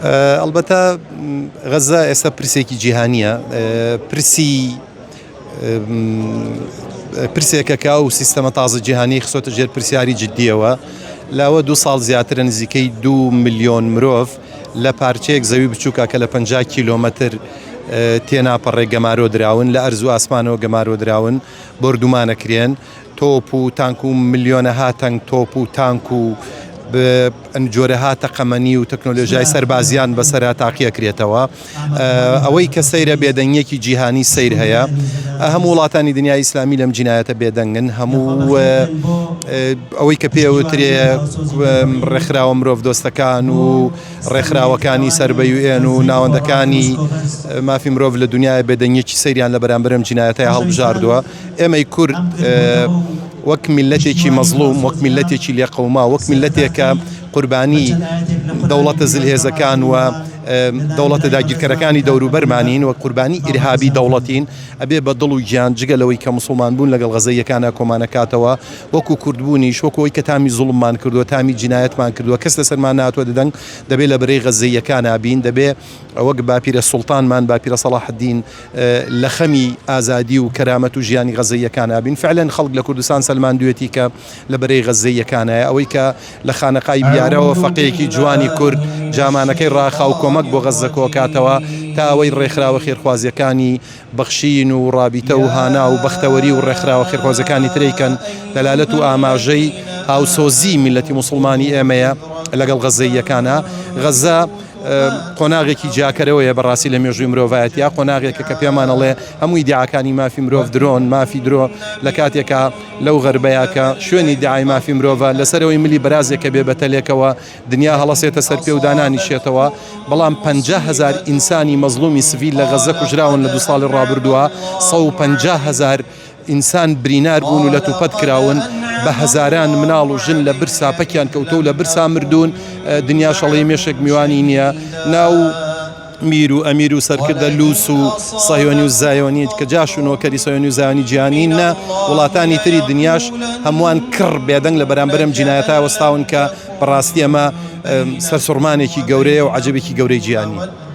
ئەڵبەتە غەزە ئێستا پرسێکی جیهانیە پرسی پرسێکە کە ئەو سیستەمە تازە جیهانی خسۆتە ژێر پرسیاری جددیەوە لاوە دو ساڵ زیاترە نزیکەی دو میلیۆن مرۆڤ لە پارچەیەک زەوی بچووکە کە لە پ کیلۆمەتر تێناپەڕێ گەمارۆ دراون لە ئەرزوو ئاسمانەوە گەمارۆ دراون بردومانە کرێن و تۆپ و تانک و ملیۆنەها تەنگ تۆپ و تانک و جۆرەها تەقەمەنی و تەکنۆلۆژای سەربازیان بەسرا تاقیەکرێتەوە ئەوەی کە سەیرە بێدەنگیەکی جیهانی سیر هەیە هەموو وڵاتانی دنیا ئیسلامی لەم جینایەتە بێدەنگن هەموو ئەوەی کە پێوترێ ڕێکخراوە مرۆڤ دۆستەکان و ڕێکخراوەکانی سەر بە یوێن و ناوەندەکانی مافی مرۆڤ لە دنیای بێدەنگیەکی سەیریان لە بەرامبرم جینایەتە هەڵبژاردووە ئێمەی کورد وەک میلەتێکی مەزلوم وەک میلەتێکی لێقەوما وەک میلەتێکە قوربانی دەوڵەتە زلهێزەکان و دەوڵەتە داگیرکەرەکانی دەوروبەرمانین و قوربانی ئیرهابی دەوڵەتین ئەبێ بە دڵ و گیان جگە لەوەی کە مسلمان بوون لەگەڵ غەزەیەکانە کۆمانەکاتەوە وەکو کوردبوونیش وەکۆی کە تامی زوڵممان کردووە تامی جینایەتمان کردووە کەس لەسەرمان ناتوە دەدەنگ دەبێت لە بەرەی غەزەیەکانە بین دەبێ وەک باپیرە سوڵتانمان، باپیرە سەڵاحەدین، لە خەمی ئازادی و کەرامەت و ژیانی غەززەییەکانا بین. فەعلەن خەڵک لە کوردستان سەلماندویەتی کە لە بەرەی غەززەییەکانایە. ئەوەی کە لە خانەقای بیارەوە فەقێیەکی جوانی کورد جامانەکەی ڕاخا و کۆمەک بۆ غەززە کۆکاتەوە تا ئەوەی ڕێکخراوە خێرخوازیەکانی بەخشین و ڕابیتە و هانا و بەختەوەری و ڕێکخراوە خێرخوازەکانی ترەیکەن، دەلالەت و ئاماژەی هاوسۆزی میللەتی موسڵمانی ئێمەیە لەگەڵ غەزەییەکانا. غەزە قۆناغێکی جیاکەرەوەیە بەڕاستی لە مێژووی مرۆڤایەتیا، قۆناغێکە کە پێمان ئەڵێ هەموو ئیدیعاکانی مافی مرۆڤ درۆن، مافی درۆ، لە کاتێکا لەو غەربەیا کە شوێنی ئیدیعای مافی مرۆڤە، لەسەرەوەی ملی بەرازێک کە بێ بەتەلێکەوە، دنیا هەڵەسێتە سەر پێ و دانانیشێتەوە، بەڵام پەنجا هەزار ئینسانی مەزڵومی سڤیل لە غەززە کوژراون لە دوو ساڵی ڕابردووە، سەد و پەنجا هەزار ئینسان برینار بوون و لەتوپەت کراون، بە هەزاران مناڵ و ژن لە برسا پەکیان کەوتووە و لە برسا مردوون، دنیاش ئەڵێی مێشێک میوانی نییە، ناو. میر و ئەمیر و سەرکردە لوس و سەهیۆنی و زایۆنیت کە جاش و نۆکەری سەیۆنی و زایۆنی جیهانی نە وڵاتانی تری دنیاش هەمووان کڕ بێدەنگ لە بەرامبەرم جینایەتا وەستاون کە بەڕاستی ئەمە سەرسوڕمانێکی گەورەیە و عجبێکی گەورەی جیهانی.